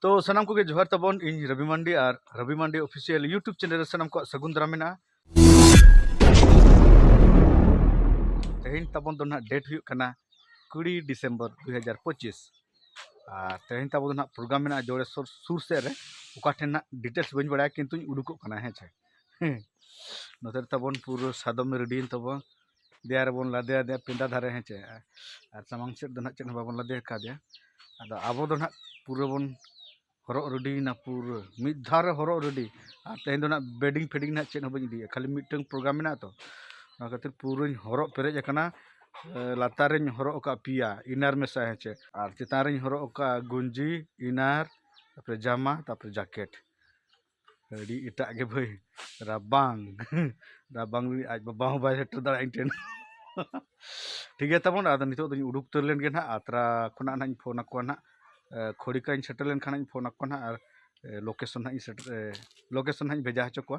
ᱛᱚ ᱥᱟᱱᱟᱢ ᱠᱚᱜᱮ ᱡᱚᱦᱟᱨ ᱛᱟᱵᱚᱱ ᱤᱧ ᱨᱚᱵᱤ ᱢᱟᱱᱰᱤ ᱟᱨ Robi Mandi official YouTube channel ᱨᱮ ᱥᱟᱱᱟᱢ ᱠᱚᱣᱟᱜ ᱥᱟᱹᱜᱩᱱ ᱫᱟᱨᱟᱢ ᱢᱮᱱᱟᱜᱼᱟ ᱛᱮᱦᱮᱧ ᱛᱟᱵᱚᱱ ᱫᱚ ᱱᱟᱦᱟᱜ ᱰᱮᱴ ᱦᱩᱭᱩᱜ ᱠᱟᱱᱟ ᱠᱩᱲᱤ ᱰᱤᱥᱮᱢᱵᱚᱨ ᱫᱩ ᱦᱟᱡᱟᱨ ᱯᱚᱸᱪᱤᱥ ᱟᱨ ᱛᱮᱦᱮᱧ ᱛᱟᱵᱚᱱ ᱫᱚ ᱱᱟᱦᱟᱜ ᱯᱨᱳᱜᱨᱟᱢ ᱢᱮᱱᱟᱜᱼᱟ ᱡᱚᱲᱮᱥᱚᱨ ᱥᱩᱨ ᱥᱮᱫ ᱨᱮ ᱚᱠᱟ ᱴᱷᱮᱱ ᱱᱟᱦᱟᱜ ᱰᱤᱴᱮᱞᱥ ᱵᱟᱹᱧ ᱵᱟᱲᱟᱭᱟ ᱠᱤᱱᱛᱩᱧ ᱩᱰᱩᱠᱚᱜ ᱠᱟᱱᱟ ᱦᱮᱸ ᱪᱮ ᱱᱚᱛᱮ ᱛᱟᱵᱚᱱ ᱯᱩᱨᱟᱹ ᱥᱟᱫᱚᱢ ᱨᱮᱰᱤᱭᱮᱱ ᱛᱟᱵᱚᱱ ᱫᱮᱭᱟ ᱨᱮᱵᱚᱱ ᱞᱟᱫᱮ ᱟᱫᱮᱭᱟ ᱯᱮᱸᱰᱟ ᱫᱷᱟᱨᱮ ᱦᱮᱸ ᱪᱮ ᱟᱨ ᱥᱟᱢᱟᱝ ᱥᱮᱫ ᱫᱚ ᱦᱟᱸᱜ ᱪᱮᱫ ᱦᱚᱸ ᱵᱟᱵᱚᱱ ᱞᱟᱫᱮ ᱠᱟᱣᱫᱮᱭᱟ ᱟᱫᱚ ᱟᱵᱚ ᱫᱚ ᱦᱟᱸᱜ ᱯᱩᱨᱟᱹ ᱵᱚᱱ ᱦᱚᱨᱚᱜ ᱨᱮᱰᱤᱭᱮᱱᱟ ᱯᱩᱨᱟᱹ ᱢᱤᱫ ᱫᱷᱟᱣ ᱨᱮ ᱦᱚᱨᱚᱜ ᱨᱮᱰᱤ ᱟᱨ ᱛᱮᱦᱮᱧ ᱫᱚ ᱦᱟᱸᱜ ᱵᱮᱰᱤᱝ ᱯᱷᱮᱰᱤᱝ ᱦᱟᱸᱜ ᱪᱮᱫ ᱦᱚᱸ ᱵᱟᱹᱧ ᱤᱫᱤᱭᱟ ᱠᱷᱟᱹᱞᱤ ᱢᱤᱫᱴᱟᱹᱱ ᱯᱨᱳᱜᱨᱟᱢ ᱢᱮᱱᱟᱜᱼᱟ ᱛᱚ ᱚᱱᱟ ᱠᱷᱟᱹᱛᱤᱨ ᱯᱩᱨᱟᱹᱧ ᱦᱚᱨᱚᱜ ᱯᱮᱨᱮᱡ ᱟᱠᱟᱱᱟ ᱞᱟᱛᱟᱨ ᱨᱤᱧ ᱦᱚᱨᱚᱜ ᱟᱠᱟᱫ ᱯᱮᱭᱟ ᱤᱱᱟᱨ ᱢᱮᱥᱟ ᱦᱮᱸ ᱪᱮ ᱟᱨ ᱪᱮᱛᱟᱱ ᱨᱤᱧ ᱦᱚᱨᱚᱜ ᱟᱠᱟᱫ ᱜᱮᱧᱡᱤ ᱤᱱᱟᱨ ᱛᱟᱨᱯᱚᱨᱮ ᱡᱟᱢᱟ ᱛᱟᱨᱯᱚᱨᱮ ᱡᱟᱠᱮᱴ ᱟᱹᱰᱤ ᱮᱴᱟᱜ ᱜᱮ ᱵᱷᱟᱹᱭ ᱨᱟᱵᱟᱝ ᱨᱟᱵᱟᱝ ᱨᱮ ᱟᱡ ᱵᱟᱵᱟ ᱦᱚᱸ ᱵᱟᱭ ᱥᱮᱴᱮᱨ ᱫᱟᱲᱮᱭᱟᱜᱼᱟ ᱤᱧ ᱴᱷᱮᱱ ᱴᱷᱤᱠ ᱜᱮᱭᱟ ᱛᱟᱵᱚᱱ ᱟᱫᱚ ᱱᱤᱛᱚᱜ ᱫᱚᱧ ᱩᱰᱩᱠ ᱩᱛᱟᱹᱨ ᱞᱮᱱ ᱜᱮ ᱱᱟᱦᱟᱜ ᱟᱛᱨᱟ ᱠᱷᱚᱱᱟᱜ ᱱᱟᱦᱟᱜ ᱤᱧ ᱯᱷᱳᱱ ᱟᱠᱚᱣᱟ ᱱᱟᱦᱟᱜ ᱠᱷᱚᱲᱤᱠᱟᱧ ᱥᱮᱴᱮᱨ ᱞᱮᱱᱠᱷᱟᱱ ᱤᱧ ᱯᱷᱳᱱ ᱟᱠᱚᱣᱟ ᱱᱟᱦᱟᱜ ᱟᱨ ᱞᱳᱠᱮᱥᱚᱱ ᱱᱟᱦᱟᱜ ᱤᱧ ᱥᱮᱴᱮᱨ ᱞᱳᱠᱮᱥᱚᱱ ᱱᱟᱦᱟᱜ ᱤᱧ ᱵᱷᱮᱡᱟ ᱦᱚᱪᱚ ᱠᱚᱣᱟ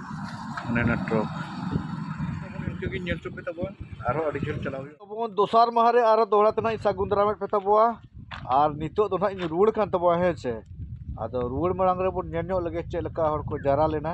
ᱚᱱᱮ ᱚᱱᱟ ᱴᱨᱚᱠ ᱤᱱᱠᱟᱹ ᱜᱮ ᱧᱮᱞ ᱦᱚᱪᱚ ᱯᱮ ᱛᱟᱵᱚᱱ ᱟᱨᱦᱚᱸ ᱟᱹᱰᱤ ᱡᱷᱟᱹᱞ ᱪᱟᱞᱟᱣ ᱦᱩᱭᱩᱜᱼᱟ ᱛᱟᱵᱚᱱ ᱫᱚᱥᱟᱨ ᱢᱟᱦᱟ ᱨᱮ ᱟᱨᱦᱚᱸ ᱫᱚᱦᱲᱟ ᱛᱮ ᱱᱟᱦᱟᱜ ᱤᱧ ᱥᱟᱹᱜᱩᱱ ᱫᱟᱨᱟᱢᱮᱫ ᱯᱮ ᱛᱟᱵᱚᱣᱟ ᱟᱨ ᱱᱤᱛᱚᱜ ᱫᱚ ᱱᱟᱦᱟᱜ ᱤᱧ ᱨᱩᱣᱟᱹᱲ ᱠᱟᱱ ᱛᱟᱵᱚᱣᱟ ᱦᱮᱸ ᱥᱮ ᱟᱫᱚ ᱨᱩᱣᱟᱹᱲ ᱢᱟᱲᱟᱝ ᱨᱮᱵᱚᱱ ᱧᱮᱞ ᱧᱚᱜ ᱞᱮᱜᱮ ᱪᱮᱫ ᱞᱮᱠᱟ ᱦᱚᱲ ᱠᱚ ᱡᱟᱣᱨᱟ ᱞᱮᱱᱟ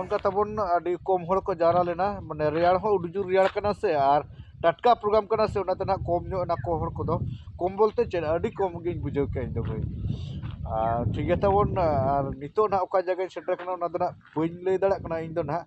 ᱚᱱᱠᱟ ᱛᱟᱵᱚᱱ ᱟᱹᱰᱤ ᱠᱚᱢ ᱦᱚᱲ ᱠᱚ ᱡᱟᱣᱨᱟ ᱞᱮᱱᱟ ᱢᱟᱱᱮ ᱨᱮᱭᱟᱲ ᱦᱚᱸ ᱟᱹᱰᱤ ᱡᱳᱨ ᱨᱮᱭᱟᱲ ᱠᱟᱱᱟ ᱥᱮ ᱟᱨ ᱴᱟᱴᱠᱟ ᱯᱨᱳᱜᱨᱟᱢ ᱠᱟᱱᱟ ᱥᱮ ᱚᱱᱟᱛᱮ ᱱᱟᱦᱟᱜ ᱠᱚᱢ ᱧᱚᱜ ᱮᱱᱟ ᱠᱚ ᱦᱚᱲ ᱠᱚᱫᱚ ᱠᱚᱢ ᱵᱚᱞᱛᱮ ᱪᱮᱫ ᱟᱹᱰᱤ ᱠᱚᱢ ᱜᱤᱧ ᱵᱩᱡᱷᱟᱹᱣ ᱠᱮᱫᱼᱟ ᱤᱧᱫᱚ ᱵᱷᱟᱹᱭ ᱟᱨ ᱴᱷᱤᱠ ᱜᱮᱭᱟ ᱛᱟᱵᱚᱱ ᱟᱨ ᱱᱤᱛᱚᱜ ᱱᱟᱦᱟᱜ ᱚᱠᱟ ᱡᱟᱭᱜᱟᱧ ᱥᱮᱴᱮᱨ ᱠᱟᱱᱟ ᱚᱱᱟ ᱫᱚ ᱱᱟᱦᱟᱜ ᱵᱟᱹᱧ ᱞᱟᱹᱭ ᱫᱟᱲᱮᱭᱟᱜ ᱠᱟᱱᱟ ᱤᱧᱫᱚ ᱱᱟᱦᱟᱜ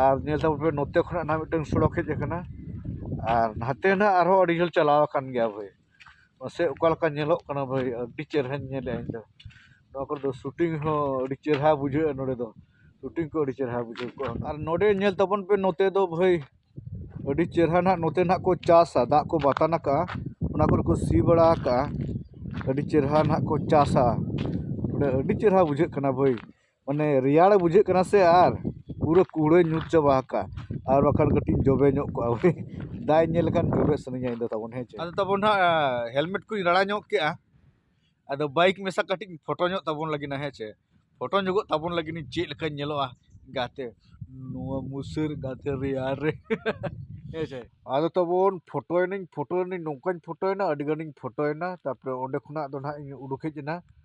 ᱟᱨ ᱧᱮᱞ ᱛᱟᱵᱚᱱ ᱯᱮ ᱱᱚᱛᱮ ᱠᱷᱚᱱᱟᱜ ᱱᱟᱦᱟᱜ ᱢᱤᱫᱴᱟᱹᱝ ᱥᱚᱲᱚᱠ ᱦᱮᱡ ᱟᱠᱟᱱᱟ ᱟᱨ ᱱᱟᱛᱮ ᱱᱟᱦᱟᱜ ᱟᱨᱦᱚᱸ ᱟᱹᱰᱤ ᱡᱷᱟᱹᱞ ᱪᱟᱞᱟᱣ ᱟᱠᱟᱱ ᱜᱮᱭᱟ ᱵᱷᱟᱹᱭ ᱢᱟᱥᱮ ᱚᱠᱟ ᱞᱮᱠᱟ ᱧᱮᱞᱚᱜ ᱠᱟᱱᱟ ᱵᱷᱟᱹᱭ ᱟᱹᱰᱤ ᱪᱮᱨᱦᱟᱧ ᱧᱮᱞᱮᱫᱼᱟ ᱤᱧ ᱫᱚ ᱱᱚᱣᱟ ᱠᱚᱨᱮ ᱫᱚ ᱥᱩᱴᱤᱝ ᱦᱚᱸ ᱟᱹᱰᱤ ᱪᱮᱨᱦᱟ ᱵᱩᱡᱷᱟᱹᱜᱼᱟ ᱱᱚᱰᱮ ᱫᱚ ᱥᱩᱴᱤᱝ ᱠᱚ ᱟᱹᱰᱤ ᱪᱮᱨᱦᱟ ᱵᱩᱡᱷᱟᱹᱣ ᱠᱚᱜᱼᱟ ᱟᱨ ᱱᱚᱰᱮ ᱧᱮᱞ ᱛᱟᱵᱚᱱ ᱯᱮ ᱱᱚᱛᱮ ᱫᱚ ᱵᱷᱟᱹᱭ ᱟᱹᱰᱤ ᱪᱮᱨᱦᱟ ᱱᱟᱦᱟᱜ ᱱᱚᱛᱮ ᱱᱟᱦᱟᱜ ᱠᱚ ᱪᱟᱥᱟ ᱫᱟᱜ ᱠᱚ ᱵᱟᱛᱟᱱ ᱟᱠᱟᱫᱼᱟ ᱚᱱᱟ ᱠᱚᱨᱮ ᱠᱚ ᱥᱤ ᱵᱟᱲᱟ ᱟᱠᱟᱫᱼᱟ ᱟᱹᱰᱤ ᱪᱮᱨᱦᱟ ᱱᱟᱦᱟᱜ ᱠᱚ ᱪᱟᱥᱟ ᱵᱚᱞᱮ ᱟᱹᱰᱤ ᱪᱮᱨᱦᱟ ᱵᱩᱡᱷᱟᱹᱜ ᱠᱟᱱᱟ ᱵᱷᱟᱹᱭ ᱢᱟᱱᱮ ᱨᱮᱭᱟᱲ ᱵᱩᱡᱷᱟᱹᱜ ᱠᱟᱱᱟ ᱥᱮ ᱟᱨ ᱯᱩᱨᱟᱹ ᱠᱩᱲᱟᱹᱭ ᱧᱩᱨ ᱪᱟᱵᱟ ᱟᱠᱟᱫᱼᱟ ᱟᱨ ᱵᱟᱠᱷᱟᱱ ᱠᱟᱹᱴᱤᱡ ᱡᱚᱵᱮ ᱧᱚᱜ ᱠᱚᱜᱼᱟ ᱵᱚᱞᱮ ᱫᱟᱜ ᱤᱧ ᱧᱮᱞ ᱞᱮᱠᱷᱟᱱ ᱡᱚᱵᱮ ᱥᱟᱱᱟᱧᱟ ᱤᱧᱫᱚ ᱛᱟᱵᱚᱱ ᱦᱮᱸ ᱪᱮ ᱟᱫᱚ ᱛᱟᱵᱚᱱ ᱦᱟᱸᱜ ᱦᱮᱞᱢᱮᱴ ᱠᱚᱧ ᱨᱟᱲᱟ ᱧᱚᱜ ᱠᱮᱫᱼᱟ ᱟᱫᱚ ᱵᱟᱭᱤᱠ ᱢᱮᱥᱟ ᱠᱟᱹᱴᱤᱡ ᱤᱧ ᱯᱷᱳᱴᱳ ᱧᱚᱜ ᱛᱟᱵᱚᱱ ᱞᱟᱹᱜᱤᱫ ᱦᱮᱸ ᱪᱮ ᱯᱷᱳᱴᱳ ᱧᱚᱜᱚᱜ ᱛᱟᱵᱚᱱ ᱞᱟᱹᱜᱤᱫ ᱤᱧ ᱪᱮᱫ ᱞᱮᱠᱟᱧ ᱧᱮᱞᱚᱜᱼᱟ ᱜᱟᱛᱮ ᱱᱚᱣᱟ ᱢᱩᱥᱟᱹᱨ ᱜᱟᱛᱮ ᱨᱮᱭᱟᱲ ᱨᱮ ᱦᱮᱸ ᱪᱮ ᱟᱫᱚ ᱛᱟᱵᱚᱱ ᱯᱷᱳᱴᱳᱭᱮᱱᱟᱹᱧ ᱯᱷᱳᱴᱳᱭᱮᱱᱟᱹᱧ ᱱᱚᱝᱠᱟᱧ ᱯᱷᱳᱴᱳᱭᱮᱱᱟ ᱟᱹᱰᱤ ᱜᱟᱱᱤᱧ ᱯᱷᱳᱴᱳᱭᱮᱱᱟ ᱛᱟᱨᱯᱚᱨᱮ ᱚᱸᱰᱮ ᱠᱷᱚᱱᱟᱜ ᱫᱚ ᱦᱟᱸᱜ ᱤᱧ ᱩᱰᱩᱠ ᱦᱮᱡ ᱮᱱᱟ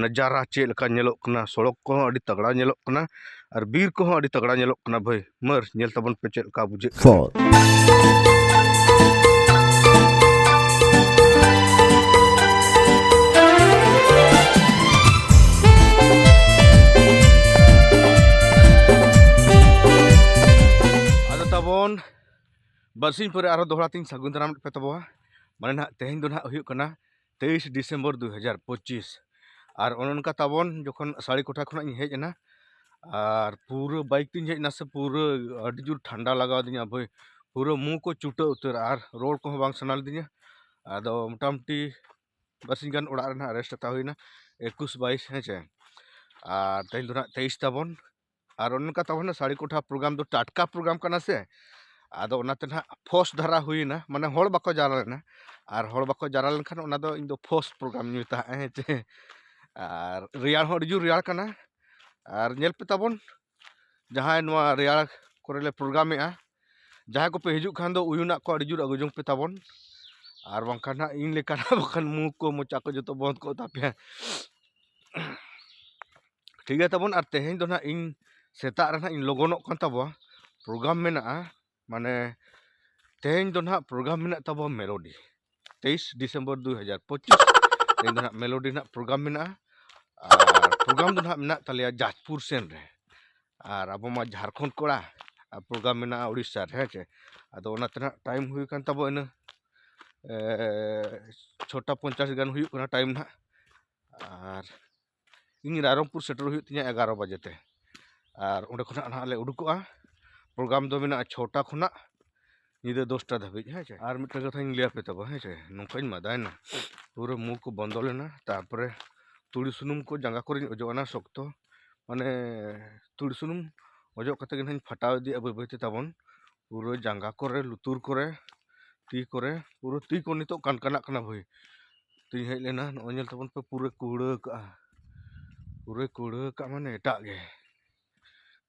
ᱱᱟᱡᱟᱨᱟ ᱪᱮᱫ ᱞᱮᱠᱟ ᱧᱮᱞᱚᱜ ᱠᱟᱱᱟ ᱥᱚᱲᱚᱠ ᱠᱚᱦᱚᱸ ᱟᱹᱰᱤ ᱛᱟᱜᱽᱲᱟ ᱧᱮᱞᱚᱜ ᱠᱟᱱᱟ ᱟᱨ ᱵᱤᱨ ᱠᱚᱦᱚᱸ ᱟᱹᱰᱤ ᱛᱟᱜᱽᱲᱟ ᱧᱮᱞᱚᱜ ᱠᱟᱱᱟ ᱵᱷᱟᱹᱭ ᱢᱟᱹᱨ ᱧᱮᱞ ᱛᱟᱵᱚᱱ ᱯᱮ ᱪᱮᱫ ᱞᱮᱠᱟ ᱵᱩᱡᱷᱟᱹᱜ ᱠᱟᱱᱟ ᱟᱫᱚ ᱛᱟᱵᱚᱱ ᱵᱟᱨᱥᱤᱧ ᱯᱚᱨᱮ ᱟᱨᱦᱚᱸ ᱫᱚᱦᱲᱟ ᱛᱤᱧ ᱥᱟᱹᱜᱩᱱ ᱫᱟᱨᱟᱢ ᱯᱮ ᱛᱟᱵᱚᱣᱟ ᱢᱟᱱᱮ ᱱᱟᱦᱟᱜ ᱛᱮᱦᱮᱧ ᱫᱚ ᱱᱟᱦᱟᱜ ᱦᱩᱭᱩᱜ ᱠᱟᱱᱟ ᱛᱮᱭᱤᱥ ᱰᱤᱥᱮᱢᱵᱚᱨ ᱫᱩ ᱦᱟᱡᱟᱨ ᱯᱚᱸᱪᱤᱥ ᱟᱨ ᱚᱱᱮ ᱚᱱᱠᱟ ᱛᱟᱵᱚᱱ ᱡᱚᱠᱷᱚᱱ ᱥᱟᱹᱲᱤ ᱠᱚᱴᱷᱟ ᱠᱷᱚᱱᱟᱜ ᱤᱧ ᱦᱮᱡ ᱮᱱᱟ ᱟᱨ ᱯᱩᱨᱟᱹ ᱵᱟᱭᱤᱠ ᱛᱤᱧ ᱦᱮᱡ ᱮᱱᱟ ᱥᱮ ᱯᱩᱨᱟᱹ ᱟᱹᱰᱤ ᱡᱳᱨ ᱴᱷᱟᱱᱰᱟ ᱞᱟᱜᱟᱣ ᱟᱹᱫᱤᱧᱟ ᱵᱷᱟᱹᱭ ᱯᱩᱨᱟᱹ ᱢᱩ ᱠᱚ ᱪᱩᱴᱟᱹ ᱩᱛᱟᱹᱨ ᱟᱨ ᱨᱚᱲ ᱠᱚᱦᱚᱸ ᱵᱟᱝ ᱥᱟᱱᱟ ᱞᱤᱫᱤᱧᱟ ᱟᱫᱚ ᱢᱚᱴᱟᱢᱩᱴᱤ ᱵᱟᱨᱥᱤᱧ ᱜᱟᱱ ᱚᱲᱟᱜ ᱨᱮ ᱱᱟᱦᱟᱜ ᱨᱮᱥᱴ ᱦᱟᱛᱟᱣ ᱦᱩᱭᱱᱟ ᱮᱠᱩᱥ ᱵᱟᱭᱤᱥ ᱦᱮᱸ ᱪᱮ ᱟᱨ ᱛᱮᱦᱮᱧ ᱫᱚ ᱱᱟᱦᱟᱜ ᱛᱮᱭᱤᱥ ᱛᱟᱵᱚᱱ ᱟᱨ ᱚᱱᱮ ᱚᱱᱠᱟ ᱛᱟᱵᱚᱱ ᱥᱟᱹᱲᱤ ᱠᱚᱴᱷᱟ ᱯᱨᱳᱜᱨᱟᱢ ᱫᱚ ᱴᱟᱴᱠᱟ ᱯᱨᱳᱜᱨᱟᱢ ᱠᱟᱱᱟ ᱥᱮ ᱟᱫᱚ ᱚᱱᱟᱛᱮ ᱱᱟᱜ ᱯᱷᱳᱨᱥ ᱫᱷᱟᱨᱟ ᱦᱩᱭᱮᱱᱟ ᱢᱟᱱᱮ ᱦᱚᱲ ᱵᱟᱠᱚ ᱡᱟᱣᱨᱟ ᱞᱮᱱᱟ ᱟᱨ ᱦᱚᱲ ᱵᱟᱠᱚ ᱡᱟᱣᱨᱟ ᱞᱮᱱᱠᱷᱟᱱ ᱚᱱᱟ ᱫᱚ ᱤᱧ ᱫᱚ ᱯᱷᱳᱨᱥ ᱯᱨᱳᱜᱨᱟᱢ ᱤᱧ ᱢᱮᱛᱟᱜᱼᱟ ᱦᱮᱸ ᱪᱮ ᱟᱨ ᱨᱮᱭᱟᱲ ᱦᱚᱸ ᱟᱹᱰᱤ ᱡᱳᱨ ᱨᱮᱭᱟᱲ ᱠᱟᱱᱟ ᱟᱨ ᱧᱮᱞ ᱯᱮ ᱛᱟᱵᱚᱱ ᱡᱟᱦᱟᱸᱭ ᱱᱚᱣᱟ ᱨᱮᱭᱟᱲ ᱠᱚᱨᱮ ᱞᱮ ᱯᱨᱳᱜᱨᱟᱢᱮᱜᱼᱟ ᱡᱟᱦᱟᱸᱭ ᱠᱚᱯᱮ ᱦᱤᱡᱩᱜ ᱠᱷᱟᱱ ᱫᱚ ᱩᱭᱩᱱᱟᱜ ᱠᱚ ᱟᱹᱰᱤ ᱡᱳᱨ ᱟᱹᱜᱩ ᱡᱚᱝ ᱯᱮ ᱛᱟᱵᱚᱱ ᱟᱨ ᱵᱟᱝᱠᱷᱟᱱ ᱱᱟᱜ ᱤᱧ ᱞᱮᱠᱟᱱᱟᱜ ᱵᱟᱠᱷᱟᱱ ᱢᱩ ᱠᱚ ᱢᱚᱪᱟ ᱠᱚ ᱡᱚᱛᱚ ᱵᱚᱱᱫᱽ ᱠᱚᱜ ᱛᱟᱯᱮᱭᱟ ᱴᱷᱤᱠ ᱜᱮᱭᱟ ᱛᱟᱵᱚᱱ ᱟᱨ ᱛᱮᱦᱮᱧ ᱫᱚ ᱦᱟᱸᱜ ᱤᱧ ᱥᱮᱛᱟᱜ ᱨᱮ ᱦᱟᱸᱜ ᱤᱧ ᱞᱚᱜᱚᱱᱚᱜ ᱠᱟᱱ ᱛᱟᱵᱚᱣᱟ ᱯᱨᱳᱜᱨᱟᱢ ᱢᱮᱱᱟᱜᱼᱟ ᱢᱟᱱᱮ ᱛᱮᱦᱮᱧ ᱫᱚ ᱦᱟᱸᱜ ᱯᱨᱳᱜᱨᱟᱢ ᱢᱮᱱᱟᱜ ᱛᱟᱵᱚᱣᱟ ᱢᱮᱞᱳᱰᱤ ᱛᱮᱭᱤᱥ ᱰᱤᱥᱮᱢᱵᱚᱨ ᱫᱩ ᱦᱟᱡᱟᱨ ᱯᱚᱸᱪᱤᱥ ᱛᱮᱦᱮᱧ ᱫᱚ ᱦᱟᱸᱜ ᱢᱮᱞᱳᱰᱤ ᱨᱮᱱᱟᱜ ᱯᱨᱳᱜᱨᱟᱢ ᱢᱮᱱᱟᱜᱼᱟ ᱟᱨ ᱯᱨᱳᱜᱨᱟᱢ ᱫᱚ ᱦᱟᱸᱜ ᱢᱮᱱᱟᱜ ᱛᱟᱞᱮᱭᱟ ᱡᱟᱡᱽᱯᱩᱨ ᱥᱮᱱ ᱨᱮ ᱟᱨ ᱟᱵᱚ ᱢᱟ ᱡᱷᱟᱲᱠᱷᱚᱸᱰ ᱠᱚᱲᱟ ᱟᱨ ᱯᱨᱳᱜᱨᱟᱢ ᱢᱮᱱᱟᱜᱼᱟ ᱩᱲᱤᱥᱥᱟ ᱨᱮ ᱦᱮᱸ ᱪᱮ ᱟᱫᱚ ᱚᱱᱟᱛᱮ ᱦᱟᱸᱜ ᱴᱟᱭᱤᱢ ᱦᱩᱭ ᱠᱟᱱ ᱛᱟᱵᱚᱣᱟ ᱤᱱᱟᱹ ᱪᱷᱚᱴᱟ ᱯᱚᱧᱪᱟᱥ ᱜᱟᱱ ᱦᱩᱭᱩᱜ ᱠᱟᱱᱟ ᱴᱟᱭᱤᱢ ᱦᱟᱸᱜ ᱟᱨ ᱤᱧ ᱨᱟᱭᱨᱚᱝᱯᱩᱨ ᱥᱮᱴᱮᱨᱚᱜ ᱦᱩᱭᱩᱜ ᱛᱤᱧᱟᱹ ᱮᱜᱟᱨᱚ ᱵᱟᱡᱮ ᱛᱮ ᱟᱨ ᱚᱸᱰᱮ ᱠᱷᱚᱱᱟᱜ ᱱᱟᱦᱟᱜ ᱞᱮ ᱩᱰᱩᱠᱚᱜᱼᱟ ᱯᱨᱳᱜᱨᱟᱢ ᱫᱚ ᱢᱮᱱᱟᱜᱼᱟ ᱪᱷᱚᱴᱟ ᱠᱷᱚᱱᱟᱜ ᱧᱤᱫᱟᱹ ᱫᱚᱥᱴᱟ ᱫᱷᱟᱹᱵᱤᱡ ᱦᱮᱸ ᱪᱮ ᱟᱨ ᱢᱤᱫᱴᱮᱱ ᱠᱟᱛᱷᱟᱧ ᱞᱟᱹᱭ ᱟᱯᱮ ᱛᱟᱵᱚᱱ ᱦᱮᱸ ᱪᱮ ᱱᱚᱝᱠᱟᱧ ᱢᱟᱫᱟᱭᱮᱱᱟ ᱯᱩᱨᱟᱹ ᱢᱩ ᱠᱚ ᱵᱚᱱᱫᱚ ᱞᱮᱱᱟ ᱛᱟᱨᱯᱚᱨᱮ ᱛᱩᱲᱤ ᱥᱩᱱᱩᱢ ᱠᱚ ᱡᱟᱸᱜᱟ ᱠᱚᱨᱮᱧ ᱚᱡᱚᱜ ᱟᱱᱟ ᱥᱚᱠᱛᱚ ᱢᱟᱱᱮ ᱛᱩᱲᱤ ᱥᱩᱱᱩᱢ ᱚᱡᱚᱜ ᱠᱟᱛᱮ ᱜᱮ ᱱᱟᱦᱟᱜ ᱤᱧ ᱯᱷᱟᱴᱟᱣ ᱤᱫᱤᱭᱮᱜᱼᱟ ᱵᱟᱹᱭ ᱵᱟᱹᱭᱛᱮ ᱛᱟᱵᱚᱱ ᱯᱩᱨᱟᱹ ᱡᱟᱸᱜᱟ ᱠᱚᱨᱮ ᱞᱩᱛᱩᱨ ᱠᱚᱨᱮ ᱛᱤ ᱠᱚᱨᱮ ᱯᱩᱨᱟᱹ ᱛᱤ ᱠᱚ ᱱᱤᱛᱚᱜ ᱠᱟᱱᱠᱟᱱᱟᱜ ᱠᱟᱱᱟ ᱵᱷᱟᱹᱭ ᱛᱮᱧ ᱦᱮᱡ ᱞᱮᱱᱟ ᱱᱚᱜᱼᱚᱭ ᱧᱮᱞ ᱛᱟᱵᱚᱱ ᱯᱮ ᱯᱩᱨᱟᱹ ᱠᱩᱲᱟᱹ ᱠᱟᱜᱼᱟ ᱯᱩᱨᱟᱹ ᱠᱩᱲᱟᱹ ᱠᱟᱜᱼᱟ ᱢᱟᱱᱮ ᱮᱴᱟᱜ ᱜᱮ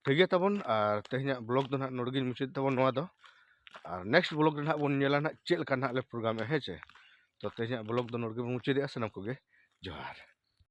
ᱴᱷᱤᱠ ᱜᱮᱭᱟ ᱛᱟᱵᱚᱱ ᱟᱨ ᱛᱮᱦᱮᱧᱟᱜ ᱵᱞᱚᱜ ᱫᱚ ᱱᱟᱦᱟᱜ ᱱᱚᱰᱮ ᱜᱤᱧ ᱢᱩᱪᱟᱹᱫ ᱛᱟᱵᱚᱱ ᱱᱚᱣᱟ ᱫᱚ ᱟᱨ ᱱᱮᱠᱥᱴ ᱵᱞᱚᱜ ᱨᱮ ᱱᱟᱦᱟᱜ ᱵᱚᱱ ᱧᱮᱞᱟ ᱱᱟᱦᱟᱜ ᱪᱮᱫ ᱞᱮᱠᱟ ᱱᱟᱦᱟᱜ ᱞᱮ ᱯᱨᱳᱜᱨᱟᱢᱮᱜᱼᱟ ᱦᱮᱸ ᱪᱮ ᱛᱚ ᱛᱮᱦᱮᱧᱟᱜ ᱵᱞᱚᱜ ᱫᱚ ᱱᱚᱰᱮ ᱜᱮᱵᱚᱱ ᱢᱩᱪᱟᱹᱫᱮᱜᱼᱟ ᱥᱟᱱᱟᱢ ᱠᱚᱜᱮ ᱡᱚᱦᱟᱨ